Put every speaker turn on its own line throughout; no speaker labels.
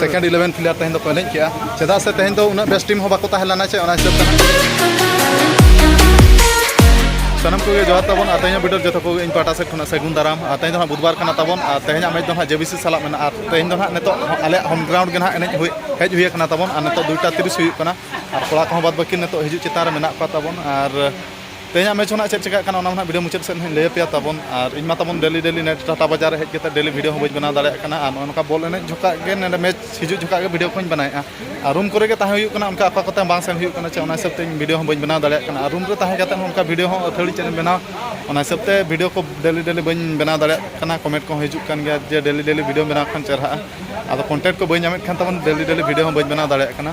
second eleven player ᱛᱮᱦᱮᱧ ᱫᱚᱠᱚ ᱮᱱᱮᱡ ᱠᱮᱜᱼᱟ ᱪᱮᱫᱟᱜ ᱥᱮ ᱛᱮᱦᱮᱧ ᱫᱚ ᱩᱱᱟᱹᱜ ᱵᱮᱥ ᱴᱤᱢ ᱦᱚᱸ ᱵᱟᱠᱚ ᱛᱟᱦᱮᱸ ᱞᱮᱱᱟ ᱪᱮ ᱚᱱᱟ ᱦᱤᱥᱟᱹᱵ ᱛᱮ ᱥᱟᱱᱟᱢ ᱠᱚᱜᱮ ᱡᱚᱦᱟᱨ ᱛᱟᱵᱚᱱ ᱟᱨ ᱛᱮᱦᱮᱧᱟᱜ ᱵᱤᱰᱟᱹᱨ ᱡᱚᱛᱚ ᱠᱚᱜᱮ ᱤᱧ ᱯᱟᱦᱴᱟ ᱥᱮᱫ ᱠᱷᱚᱱᱟᱜ ᱥᱟᱹᱜᱩᱱ ᱫᱟᱨᱟᱢ ᱟᱨ ᱛᱮᱦᱮᱧ ᱫᱚ ᱦᱟᱸᱜ ᱵᱩᱫᱷᱵᱟᱨ ᱠᱟᱱᱟ ᱛᱟᱵᱚᱱ ᱟᱨ ᱛᱮᱦᱮᱧᱟᱜ ᱢᱮᱪ ᱫᱚ ᱦᱟᱸᱜ ᱡᱮᱵᱤᱥᱤ ᱥᱟᱞᱟᱜ ᱢᱮᱱᱟᱜᱼᱟ ᱟᱨ ᱛᱮᱦᱮᱧ ᱫᱚ ᱦᱟᱸᱜ ᱱᱤᱛᱚᱜ ᱟᱞᱮᱭᱟᱜ ᱦᱳᱢ ᱜᱨᱟᱣᱩᱱᱰ ᱜᱮ ᱦᱟᱸᱜ ᱮᱱᱮᱡ ᱦᱩᱭ ᱦᱮᱡ ᱦᱩᱭ ᱟᱠᱟᱱᱟ ᱛᱟᱵᱚᱱ ᱟᱨ ᱱᱤᱛᱚᱜ ᱫᱩᱭᱴᱟ ᱛᱤᱨᱤᱥ ᱦᱩᱭᱩᱜ ᱠᱟᱱᱟ ᱟᱨ ᱠᱚᱲᱟ ᱠᱚᱦᱚᱸ ᱵᱟᱫᱽ ᱵᱟᱹᱠᱤ ᱱᱤᱛᱚᱜ ᱦᱤᱡᱩᱜ ᱪᱮᱛᱟᱱ ᱨᱮ ᱢᱮᱱᱟᱜ ᱠᱚᱣᱟ ᱛᱟᱵᱚᱱ ᱟᱨ ᱛᱮᱦᱮᱧᱟᱜ ᱢᱮᱪ ᱦᱚᱸ ᱪᱮᱫ ᱪᱮᱠᱟᱜ ᱠᱟᱱᱟ ᱚᱱᱟ ᱢᱟ ᱵᱷᱤᱰᱤᱭᱳ ᱢᱩᱪᱟᱹᱫ ᱥᱮᱫ ᱦᱚᱸᱧ ᱞᱟᱹᱭ ᱟᱯᱮᱭᱟ ᱛᱟᱵᱚᱱ ᱟᱨ ᱤᱧ ᱢᱟ ᱛᱟᱵᱚᱱ ᱰᱮᱞᱤ ᱰᱮᱞᱤ ᱱᱮᱴ ᱴᱟᱴᱟ ᱵᱟᱡᱟᱨ ᱨᱮ ᱦᱮᱡ ᱠᱟᱛᱮ ᱰᱮᱞᱤ ᱵᱷᱤᱰᱤᱭᱳ ᱦᱚᱸ ᱵᱟᱹᱧ ᱵᱮᱱᱟᱣ ᱫᱟᱲᱮᱭᱟᱜ ᱠᱟᱱᱟ ᱟᱨ ᱱᱚᱜᱼᱚ ᱱᱚᱝᱠᱟ ᱵᱚᱞ ᱮᱱᱮᱡ ᱡᱚᱠᱷᱟᱜ ᱜᱮ ᱱᱚᱰᱮ ᱢᱮᱪ ᱦᱤᱡᱩᱜ ᱡᱚᱠᱷᱟᱜ ᱜᱮ ᱵᱷᱤᱰᱤᱭᱳ ᱠᱚᱧ ᱵᱮᱱᱟᱣᱮᱜᱼᱟ ᱟᱨ ᱨᱩᱢ ᱠᱚᱨᱮ ᱜᱮ ᱛᱟᱦᱮᱸ ᱦᱩᱭᱩᱜ ᱠᱟᱱᱟ ᱚᱱᱠᱟ ᱚᱠᱟ ᱠᱚᱛᱮ ᱵᱟᱝ ᱥᱮᱱ ᱦᱩᱭᱩᱜ ᱠᱟᱱᱟ ᱪᱮ ᱚᱱᱟ ᱦᱤᱥᱟᱹᱵ ᱛᱮ ᱤᱧ ᱵᱷᱤᱰᱤᱭᱳ ᱦᱚᱸ ᱵᱟᱹᱧ ᱵᱮᱱᱟᱣ ᱫᱟᱲᱮᱭᱟᱜ ᱠᱟᱱᱟ ᱟᱨ ᱨᱩᱢ ᱨᱮ ᱛᱟᱦᱮᱸ ᱠᱟᱛᱮ ᱦᱚᱸ ᱚᱱᱠᱟ ᱵᱷᱤᱰᱤᱭᱳ ᱦᱚᱸ ᱟᱹᱛᱷᱟᱹᱲᱤ ᱪᱮᱫ ᱮᱢ ᱵᱮᱱᱟᱣᱟ ᱚᱱᱟ ᱦᱤᱥᱟᱹᱵ ᱛᱮ ᱵᱷᱤᱰᱤᱭᱳ ᱠᱚ ᱰᱮᱞᱤ ᱰᱮᱞᱤ ᱵᱟᱹᱧ ᱵᱮᱱᱟᱣ ᱫᱟᱲᱮᱭᱟᱜ ᱠᱟᱱᱟ ᱠᱚᱢᱮᱱᱴ ᱠᱚᱦᱚᱸ ᱦᱤᱡᱩᱜ ᱠᱟᱱ ᱜᱮᱭᱟ ᱡᱮ ᱰᱮᱞᱤ ᱰᱮᱞᱤ ᱵᱷᱤᱰᱤᱭᱳᱢ ᱵᱮᱱᱟᱣ ᱠᱷᱟᱱ ᱪᱮᱦᱨᱟᱜᱼᱟ ᱟᱫᱚ ᱠᱚᱱᱴᱮᱱᱴ ᱠᱚ ᱵᱟᱹᱧ ᱧᱟᱢᱮᱫ ᱠᱷᱟᱱ ᱛᱟᱵᱚᱱ ᱰᱮᱞᱤ ᱰᱮᱞᱤ ᱵᱷᱤᱰᱤᱭᱳ ᱦᱚᱸ ᱵᱟᱹᱧ ᱵᱮᱱᱟᱣ ᱫᱟᱲᱮᱭᱟᱜ ᱠᱟᱱᱟ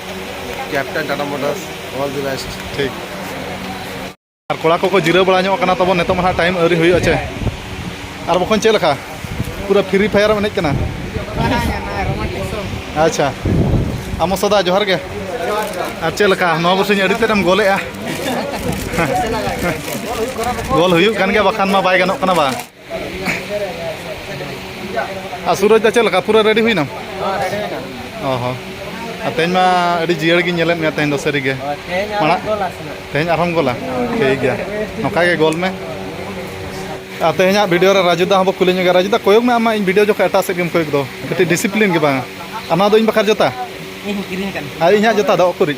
captain Tata motors all the best
ᱴᱷᱤᱠ ᱟᱨ ᱠᱚᱲᱟ ᱠᱚᱠᱚ ᱡᱤᱨᱟᱹᱣ ᱵᱟᱲᱟ ᱧᱚᱜ ᱠᱟᱱᱟ ᱛᱟᱵᱚᱱ ᱱᱤᱛᱚᱜ ᱢᱟ ᱴᱟᱭᱤᱢ ᱟᱹᱣᱨᱤ ᱦᱩᱭᱩᱜᱼᱟ ᱪᱮ ᱟᱨ ᱵᱟᱠᱷᱟᱱ ᱪᱮᱫ ᱞᱮᱠᱟ ᱯᱩᱨᱟᱹ ᱯᱷᱨᱤ ᱯᱷᱟᱭᱟᱨ ᱮᱱᱮᱡ ᱠᱟᱱᱟ ᱟᱪᱪᱷᱟ ᱟᱢᱚ ᱥᱚᱫᱟ ᱡᱚᱦᱟᱨ ᱜᱮ ᱟᱨ ᱪᱮᱫ ᱞᱮᱠᱟ ᱱᱚᱣᱟ ᱵᱚᱥᱮᱧ ᱟᱹᱰᱤ ᱛᱮᱫ ᱮᱢ ᱜᱚᱞᱮᱜᱼᱟ ᱜᱚᱞ ᱦᱩᱭᱩᱜ ᱠᱟᱱ ᱜᱮᱭᱟ ᱵᱟᱠᱷᱟᱱ ᱢᱟ ᱵᱟᱭ ᱜᱟᱱᱚᱜ ᱠᱟᱱᱟ ᱵᱟᱝ ᱟᱨ ᱥᱩᱨᱚᱡᱽ ᱫᱟ ᱪᱮᱫ ᱞᱮᱠᱟ ᱯᱩᱨᱟᱹ ᱨᱮᱰᱤ ᱦᱩᱭᱱᱟ ᱚ ᱦᱚᱸ ᱟᱨ ᱛᱮᱦᱮᱧ ᱢᱟ ᱟᱹᱰᱤ ᱡᱤᱭᱟᱹᱲ ᱜᱤᱧ ᱧᱮᱞᱮᱫ ᱢᱮᱭᱟ ᱛᱮᱦᱮᱧ ᱫᱚ ᱥᱟᱹᱨᱤ ᱜᱮ ᱢᱟᱲᱟᱝ ᱛᱮᱦᱮᱧ ᱟᱨᱦᱚᱸᱢ ᱜᱚᱞᱟ ᱴᱷᱤᱠ ᱜᱮᱭᱟ ᱱᱚᱝᱠᱟ ᱜᱮ ᱜᱚᱞ ᱢᱮ ᱟᱨ ᱛᱮᱦᱮᱧᱟᱜ ᱵᱷᱤᱰᱤᱭᱳ ᱨᱮ ᱨᱟᱡᱩ ᱫᱟ ᱦᱚᱸᱵᱚ ᱠᱩᱞᱤ ᱧᱚᱜᱟ ᱨᱟᱡᱩ ᱫᱟ ᱠᱚᱭᱚᱜ ᱢᱮ ᱟᱢ ᱢᱟ ᱤᱧ ᱵᱷᱤᱰᱤᱭᱳ ᱡᱚᱠᱷᱚᱱ ᱮᱴᱟᱜ ᱥᱮᱫ ᱜᱮᱢ ᱠᱚᱭᱚᱜ ᱫᱚ ᱠᱟᱹᱴᱤᱡ ᱰᱤᱥᱤᱯᱞᱤᱱ ᱜᱮ ᱵᱟᱝ ᱟᱨ ᱱᱚᱣᱟ ᱫᱚ ᱤᱧ ᱵᱟᱠᱷᱨᱟ ᱡᱚᱛᱟ ᱟᱨ ᱤᱧᱟᱹᱜ ᱡᱚᱛᱟ ᱫᱚ ᱚᱠᱚᱨᱤᱡ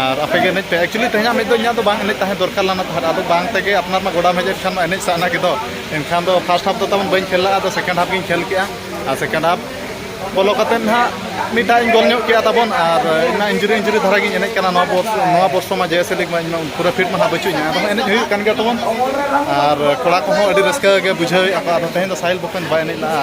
ᱟᱨ ᱟᱯᱮ ᱜᱮ ᱮᱱᱮᱡ ᱯᱮ ᱮᱠᱪᱩᱭᱮᱞᱤ ᱛᱮᱦᱮᱧᱟᱜ ᱢᱤᱫ ᱫᱚ ᱤᱧᱟᱹᱜ ᱫᱚ ᱵᱟᱝ ᱮᱱᱮᱡ ᱛᱟᱦᱮᱸ ᱫᱚᱨᱠᱟᱨ ᱞᱮᱱᱟ ᱛᱟᱦᱮᱸᱫ ᱟᱫᱚ ᱵᱟᱝ ᱛᱮᱜᱮ ᱟᱯᱱᱟᱨ ᱢᱟ ᱜᱚᱰᱟᱢ ᱦᱮᱡ ᱠᱷᱟᱱ ᱢᱟ ᱮᱱᱮᱡ ᱥᱟᱱᱟ ᱜᱮᱫᱚ ᱮᱱᱠᱷᱟᱱ ᱫᱚ ᱯᱷᱟᱥᱴ ᱦᱟᱯ ᱫᱚ ᱛᱟᱵᱚᱱ ᱵᱟᱹᱧ ᱠᱷᱮᱞ ᱞᱮᱫᱟ ᱟᱫᱚ ᱥᱮᱠᱮᱱᱰ ᱦᱟᱯ ᱜᱤᱧ ᱠᱷᱮᱞ ᱠᱮᱜᱼᱟ ᱟᱨ ᱥᱮᱠᱮᱱᱰ ᱦᱟᱯ ᱵᱚᱞᱚ ᱠᱟᱛᱮ ᱱᱟᱦᱟᱜ ᱢᱤᱫᱴᱟᱜ ᱤᱧ ᱜᱚᱞ ᱧᱚᱜ ᱠᱮᱜᱼᱟ ᱛᱟᱵᱚᱱ ᱟᱨ ᱤᱧᱢᱟ ᱤᱱᱡᱩᱨᱤ ᱤᱱᱡᱩᱨᱤ ᱫᱷᱟᱨᱟ ᱜᱤᱧ ᱮᱱᱮᱡ ᱠᱟᱱᱟ ᱱᱚᱣᱟ ᱵᱚᱨᱥ ᱱᱚᱣᱟ ᱵᱚᱨᱥᱚ ᱢᱟ ᱡᱮᱭᱮᱥᱮ ᱞᱤᱜᱽ ᱢᱟ ᱤᱧᱢᱟ ᱯᱩᱨᱟᱹ ᱯᱷᱤᱴ ᱢᱟ ᱱᱟᱦᱟᱜ ᱵᱟᱹᱪᱩᱜ ᱤᱧᱟ ᱟᱫᱚ ᱮᱱᱮᱡ ᱦᱩᱭᱩᱜ ᱠᱟᱱ ᱜᱮᱭᱟ ᱛᱟᱵᱚᱱ ᱟᱨ ᱠᱚᱲᱟ ᱠᱚᱦᱚᱸ ᱟᱹᱰᱤ ᱨᱟᱹᱥᱠᱟᱹ ᱜᱮ ᱵᱩᱡᱷᱟᱹᱣᱮᱜᱼᱟ ᱠᱚ ᱟᱫᱚ ᱛᱮᱦᱮᱧ ᱫᱚ ᱥᱟᱦᱤᱞ ᱵᱚᱠᱚᱧ ᱵᱟᱭ ᱮᱱᱮᱡ ᱞᱮᱜᱼᱟ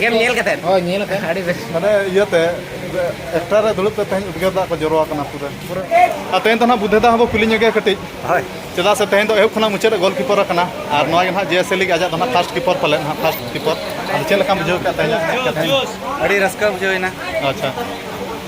ᱜᱮᱢ ᱧᱮᱞ ᱠᱟᱛᱮ ᱦᱳᱭ ᱧᱮᱞ ᱠᱟᱛᱮ ᱟᱹᱰᱤ ᱵᱮᱥ
ᱢᱟᱱᱮ ᱤᱭᱟᱹᱛᱮ ᱮᱠᱴᱟᱨ ᱨᱮ ᱫᱩᱲᱩᱵ ᱛᱮ ᱛᱮᱦᱮᱧ ᱩᱫᱽᱜᱟᱹᱨ ᱫᱟᱜ ᱠᱚ ᱡᱚᱨᱚ ᱟᱠᱟᱱᱟ ᱯᱩᱨᱟᱹ ᱯᱩᱨᱟᱹ ᱟᱨ ᱛᱮᱦᱮᱧ ᱫᱚ ᱱᱟᱦᱟᱜ ᱵᱩᱫᱷᱮ ᱫᱟ ᱦᱚᱸ ᱵᱚ ᱠᱩᱞᱤ ᱧᱚᱜᱮ ᱠᱟᱹᱴᱤᱡ ᱦᱳᱭ ᱪᱮᱫᱟᱜ ᱥᱮ
ᱛᱮᱦᱮᱧ ᱫᱚ ᱮᱦᱚᱵ
ᱠᱷᱚᱱᱟᱜ ᱢᱩᱪᱟᱹᱫ ᱨᱮ ᱜᱳᱞᱠᱤᱯᱟᱨ ᱟᱠᱟᱱᱟ ᱟᱨ ᱱᱚᱣᱟ ᱜᱮ ᱱᱟᱦᱟᱜ ᱡᱮᱥᱮ ᱞᱤᱜᱽ ᱟᱡᱟᱜ ᱫᱚ ᱱᱟᱦᱟᱜ ᱯᱷᱟᱥᱴ ᱠᱤᱯᱟᱨ ᱯᱟᱞᱮ ᱱᱟᱦᱟᱜ ᱯᱷᱟᱥᱴ ᱠᱤᱯᱟᱨ ᱟᱫᱚ ᱪᱮᱫ ᱞᱮᱠᱟᱢ ᱵᱩᱡᱷᱟᱹᱣ ᱠᱮᱫ ᱛᱮᱦᱮᱧᱟᱜ ᱟᱹᱰᱤ
ᱨᱟᱹᱥᱠᱟᱹ ᱵᱩᱡᱷᱟᱹᱣ ᱮᱱᱟ ᱟᱪᱪᱷᱟ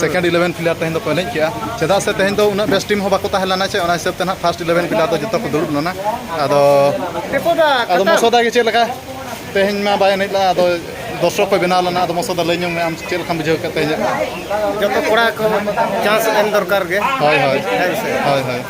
ᱥᱮᱠᱮᱱᱰ ᱤᱞᱮᱵᱷᱮᱱ ᱯᱞᱮᱭᱟᱨ ᱛᱮᱦᱮᱧ ᱫᱚᱠᱚ ᱮᱱᱮᱡ ᱠᱮᱜᱼᱟ ᱪᱮᱫᱟᱜ ᱥᱮ ᱛᱮᱦᱮᱧ ᱫᱚ ᱩᱱᱟᱹᱜ ᱵᱮᱥ ᱴᱤᱢ ᱦᱚᱸ ᱵᱟᱠᱚ ᱛᱟᱦᱮᱸ ᱞᱮᱱᱟ ᱪᱮ ᱚᱱᱟ ᱦᱤᱥᱟᱹᱵ ᱛᱮ ᱱᱟᱦᱟᱜ ᱯᱷᱟᱥᱴ ᱤᱞᱮᱵᱷᱮᱱ ᱯᱞᱮᱭᱟᱨ ᱫᱚ ᱡᱚᱛᱚ ᱠᱚ ᱫᱩᱲᱩᱵ ᱞᱮᱱᱟ ᱟᱫᱚ ᱟᱫᱚ ᱢᱚᱥᱚᱫᱟ ᱜᱮ ᱪᱮᱫ ᱞᱮᱠᱟ ᱛᱮᱦᱮᱧ ᱢᱟ ᱵᱟᱭ ᱮᱱᱮᱡ ᱞᱮᱫᱟ ᱟᱫᱚ ᱫᱚᱨᱥᱚᱠ ᱠᱚ ᱵᱮᱱᱟᱣ ᱞᱮᱱᱟ ᱟᱫᱚ ᱢᱚᱥᱚᱫᱟ ᱞᱟᱹᱭ ᱧᱚᱜ ᱢᱮ ᱟᱢ ᱪᱮᱫ ᱞᱮᱠᱟᱢ ᱵᱩᱡᱷᱟᱹᱣ ᱠᱮᱫ ᱛᱮᱦᱮᱧᱟᱜ ᱡᱚᱛᱚ ᱠᱚᱲᱟ
ᱠᱚ ᱪᱟᱱᱥ ᱮᱢ ᱫᱚᱨᱠᱟᱨ ᱜᱮ ᱦᱳᱭ ᱦᱳᱭ ᱦᱮᱸ
ᱥᱮ ᱦᱳᱭ ᱦᱳᱭ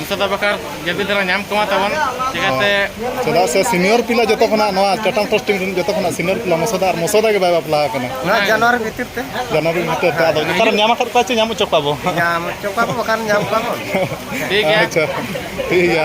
ᱱᱤᱛᱚᱜ ᱫᱚ ᱵᱟᱠᱷᱟᱨ ᱡᱟᱹᱵᱤ ᱫᱷᱟᱨᱟ ᱧᱟᱢ ᱠᱚᱢᱟ ᱛᱟᱵᱚᱱ ᱪᱮᱠᱟᱛᱮ ᱪᱮᱫᱟᱜ ᱥᱮ
ᱥᱤᱱᱤᱭᱚᱨ ᱯᱤᱞᱟ ᱡᱚᱛᱚ ᱠᱷᱚᱱᱟᱜ ᱱᱚᱣᱟ ᱪᱟᱴᱟᱝ ᱴᱨᱟᱥᱴ ᱴᱤᱢ ᱨᱮᱱ ᱡᱚᱛᱚ ᱠᱷᱚᱱᱟᱜ ᱥᱤᱱᱤᱭᱚᱨ ᱯᱤᱞᱟ ᱢᱚᱥᱚᱫᱟ ᱟᱨ ᱢᱚᱥᱚᱫᱟ ᱜᱮ ᱵᱟᱭ ᱵᱟᱯᱞᱟ ᱟᱠᱟᱱᱟ ᱚᱱᱟ ᱡᱟᱱᱩᱣᱟᱨᱤ ᱵᱷᱤᱛᱤᱨ
ᱛᱮ ᱡᱟᱱᱩᱣᱟᱨᱤ ᱵᱷᱤᱛᱤᱨ ᱛᱮ ᱟᱫᱚ ᱱᱮᱛᱟᱨ ᱧᱟᱢ ᱟᱠᱟᱫ
ᱠᱚᱣᱟ ᱪᱮ ᱧᱟᱢ ᱦᱚᱪᱚ ᱠᱚᱣᱟ ᱵᱚ ᱧᱟᱢ ᱦᱚᱪᱚ ᱠᱚᱣᱟ ᱵᱚ ᱵᱟᱠᱷᱟᱱ ᱧᱟᱢ ᱠᱚᱣᱟ ᱵᱚ
ᱴᱷᱤᱠ ᱜᱮᱭᱟ
ᱟᱪᱪᱷᱟ ᱴᱷᱤᱠ
ᱜᱮᱭᱟ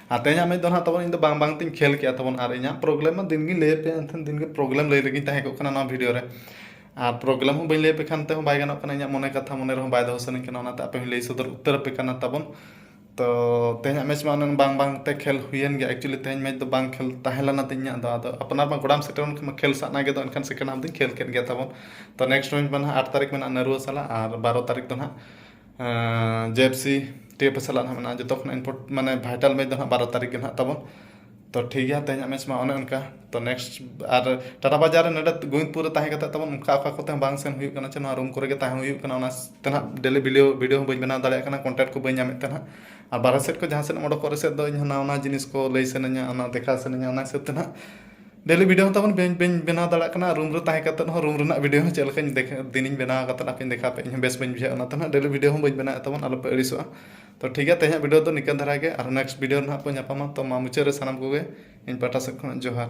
ᱟᱨ ᱛᱮᱦᱮᱧᱟᱜ ᱢᱮᱪ ᱫᱚ ᱱᱟᱦᱟᱜ ᱛᱟᱵᱚᱱ ᱤᱧ ᱫᱚ ᱵᱟᱝ ᱵᱟᱝ ᱛᱤᱧ ᱠᱷᱮᱞ ᱠᱮᱜᱼᱟ ᱛᱟᱵᱚᱱ ᱟᱨ ᱤᱧᱟᱹᱜ ᱯᱨᱚᱵᱞᱮᱢ ᱢᱟ ᱫᱤᱱ ᱜᱤᱧ ᱞᱟᱹᱭ ᱟᱯᱮᱭᱟ ᱮᱱᱠᱷᱟᱱ ᱫᱤᱱ ᱜᱮ ᱯᱨᱚᱵᱞᱮᱢ ᱞᱟᱹᱭ ᱨᱮᱜᱮᱧ ᱛᱟᱦᱮᱸ ᱠᱚᱜ ᱠᱟᱱᱟ ᱱᱚᱣᱟ ᱵᱷᱤᱰᱤᱭᱳ ᱨᱮ ᱟᱨ ᱯᱨᱚᱵᱞᱮᱢ ᱦᱚᱸ ᱵᱟᱹᱧ ᱞᱟᱹᱭ ᱟᱯᱮ ᱠᱷᱟᱱ ᱛᱮᱦᱚᱸ ᱵᱟᱭ ᱜᱟᱱᱚᱜ ᱠᱟᱱᱟ ᱤᱧᱟᱹᱜ ᱢᱚᱱᱮ ᱠᱟᱛᱷᱟ ᱢᱚᱱᱮ ᱨᱮᱦᱚᱸ ᱵᱟᱭ ᱫᱚᱦᱚ ᱥᱟᱱᱟᱹᱧ ᱠᱟᱱᱟ ᱚᱱᱟᱛᱮ ᱟᱯᱮ ᱦᱚᱸᱧ ᱞᱟᱹᱭ ᱥᱚᱫᱚᱨ ᱩᱛᱟᱹᱨ ᱟᱯᱮ ᱠᱟᱱᱟ ᱛᱟᱵᱚᱱ ᱛᱚ ᱛᱮᱦᱮᱧᱟᱜ ᱢᱮᱪ ᱢᱟ ᱚᱱᱮ ᱵᱟᱝ ᱵᱟᱝ ᱛᱮ ᱠᱷᱮᱞ ᱦᱩᱭᱮᱱ ᱜᱮᱭᱟ ᱮᱠᱪᱩᱞᱤ ᱛᱮᱦᱮᱧ ᱢᱮᱪ ᱫᱚ ᱵᱟᱝ ᱠᱷᱮᱞ ᱛᱟᱦᱮᱸ ᱞᱮᱱᱟ ᱛᱤᱧ ᱤᱧᱟᱹᱜ ᱫᱚ ᱟᱫᱚ ᱟᱯᱱᱟᱨ ᱢᱟ ᱜᱚᱰᱟᱢ ᱥᱮᱴᱮᱨ ᱞᱮᱱᱠᱷᱟᱱ ᱢᱟ ᱠᱷᱮᱞ ᱥᱟᱱᱟ ᱜᱮᱫᱚ ᱮᱱᱠᱷᱟᱱ ᱥᱮᱠᱮᱱᱰ ᱦᱟᱯ ᱫᱚᱧ ᱠᱷᱮᱞ ᱠᱮᱜ ᱜᱮ ᱛᱟᱵᱚᱱ ᱛᱚ ᱱᱮᱠᱥᱴ ᱢᱮᱪ ᱢᱟ ᱱᱟᱦᱟᱜ ᱟᱴ ᱛᱟᱹᱨᱤᱠᱷ ᱢᱮᱱᱟᱜᱼᱟ ᱱᱟᱹᱨᱩᱣᱟᱹ ᱥᱟᱞᱟᱜ ᱟᱨ ᱵᱟᱨᱚ ᱛᱟᱹᱨᱤᱠᱷ ᱫᱚ ᱱᱟᱦᱟᱜ ᱡᱮ F C T F A ᱥᱟᱞᱟᱜ ᱦᱚᱸ ᱢᱮᱱᱟᱜᱼᱟ ᱡᱚᱛᱚ ᱠᱷᱚᱱᱟᱜ ᱤᱱᱯᱳᱨᱴ ᱢᱟᱱᱮ ᱵᱷᱟᱭᱴᱟᱞ ᱢᱮᱪ ᱫᱚ ᱦᱟᱸᱜ ᱵᱟᱨᱚ ᱛᱟᱹᱨᱤᱠᱷ ᱜᱮ ᱦᱟᱸᱜ ᱛᱟᱵᱚᱱ ᱛᱚ ᱴᱷᱤᱠ ᱜᱮᱭᱟ ᱛᱮᱦᱮᱧᱟᱜ ᱢᱮᱪ ᱢᱟ ᱚᱱᱮ ᱚᱱᱠᱟ ᱛᱚ ᱱᱮᱠᱥᱴ ᱟᱨ ᱴᱟᱴᱟ ᱵᱟᱡᱟᱨ ᱨᱮ ᱱᱚᱰᱮ ᱜᱳᱵᱤᱱᱫᱽᱯᱩᱨ ᱨᱮ ᱛᱟᱦᱮᱸ ᱠᱟᱛᱮᱫ ᱛᱟᱵᱚᱱ ᱚᱱᱠᱟ ᱚᱠᱟ ᱠᱚᱛᱮ ᱦᱚᱸ ᱵᱟᱝ ᱥᱮᱱ ᱦᱩᱭᱩᱜ ᱠᱟᱱᱟ ᱪᱮ ᱱᱚᱣᱟ ᱨᱩᱢ ᱠᱚᱨᱮ ᱜᱮ ᱛᱟᱦᱮᱸ ᱦᱩᱭᱩᱜ ᱠᱟᱱᱟ ᱚᱱᱟ ᱛᱮ ᱦᱟᱸᱜ ᱰᱮᱞᱤ ᱵᱷᱤᱰᱤᱭᱳ ᱵᱷᱤᱰᱤᱭᱳ ᱦᱚᱸ ᱵᱟᱹᱧ ᱵᱮᱱᱟᱣ ᱫᱟᱲᱮᱭᱟᱜ ᱠᱟᱱᱟ ᱠᱚᱱᱴᱮᱱᱴ ᱠᱚ ᱵᱟᱹᱧ ᱧᱟᱢᱮᱫ ᱛᱮ ᱦᱟᱸᱜ ᱟᱨ ᱵᱟᱦᱨᱮ ᱥᱮᱫ ᱠᱷᱚᱱ ᱡᱟᱦᱟᱸ ᱥᱮᱫ ᱮᱢ ᱚᱰᱚᱠᱚᱜ ᱨᱮᱥᱮᱫ ᱫᱚ ᱤᱧ ᱦᱚᱸ ᱱᱟᱣᱟ ᱱᱟᱣᱟ ᱡᱤᱱᱤᱥ ᱠᱚ ᱞᱟᱹᱭ ᱥᱟᱱᱟᱧᱟ ᱚᱱᱟ ᱫᱮᱠᱷᱟᱣ ᱥᱟᱱᱟᱧᱟ ᱚᱱᱟ ᱦᱤᱥᱟᱹᱵ ᱛᱮ ᱦᱟᱸᱜ ᱰᱮᱞᱤ ᱵᱷᱤᱰᱭᱳ ᱦᱚᱸ ᱛᱟᱵᱚᱱ ᱵᱟᱹᱧ ᱵᱟᱹᱧ ᱵᱮᱱᱟᱣ ᱫᱟᱲᱮᱭᱟᱜ ᱠᱟᱱᱟ ᱨᱩᱢ ᱨᱮ ᱛᱟᱦᱮᱸ ᱠᱟᱛᱮᱫ ᱦᱚᱸ ᱨᱩᱢ ᱨᱮᱱᱟᱜ ᱵᱷᱤᱰᱭᱳ ᱦᱚᱸ ᱪᱮᱫ ᱞᱮᱠᱟᱧ ᱫᱮᱠᱷᱟ ᱫᱤᱱᱤᱧ ᱵᱮᱱᱟᱣ ᱠᱟᱛᱮᱫ ᱟᱯᱮᱧ ᱫᱮᱠᱷᱟᱣ ᱯᱮᱭᱟ ᱤᱧ ᱦᱚᱸ ᱵᱮᱥ ᱵᱟᱹᱧ ᱵᱩᱡᱷᱟᱹᱣᱮᱜᱼᱟ ᱚᱱᱟᱛᱮ ᱱᱟᱜ ᱰᱮᱞᱤ ᱵᱷᱤᱰᱭᱳ ᱦᱚᱸ ᱵᱟᱹᱧ ᱵᱮᱱᱟᱣᱮᱜ ᱛᱟᱵᱚᱱ ᱟᱞᱚ ᱯᱮ ᱟᱹᱲᱤᱥᱚᱜᱼᱟ ᱛᱚ ᱴᱷᱤᱠ ᱜᱮᱭᱟ ᱛᱮᱦᱮᱧᱟᱜ ᱵᱷᱤᱰᱭᱳ ᱫᱚ ᱱᱤᱝᱠᱟᱹ ᱫᱷᱟᱨᱟ ᱜᱮ ᱟᱨ ᱱᱮᱠᱥᱴ ᱵᱷᱤᱰᱭᱳ ᱨᱮ ᱱᱟᱜ ᱵᱚᱱ ᱧᱟᱯᱟᱢᱟ ᱛᱚ ᱢᱟ ᱢᱩᱪᱟᱹᱫ ᱨᱮ ᱥᱟᱱᱟᱢ ᱠᱚᱜᱮ ᱤᱧ ᱯᱟᱦᱴᱟ ᱥᱮᱫ ᱠᱷᱚᱱᱟᱜ ᱡᱚᱦᱟᱨ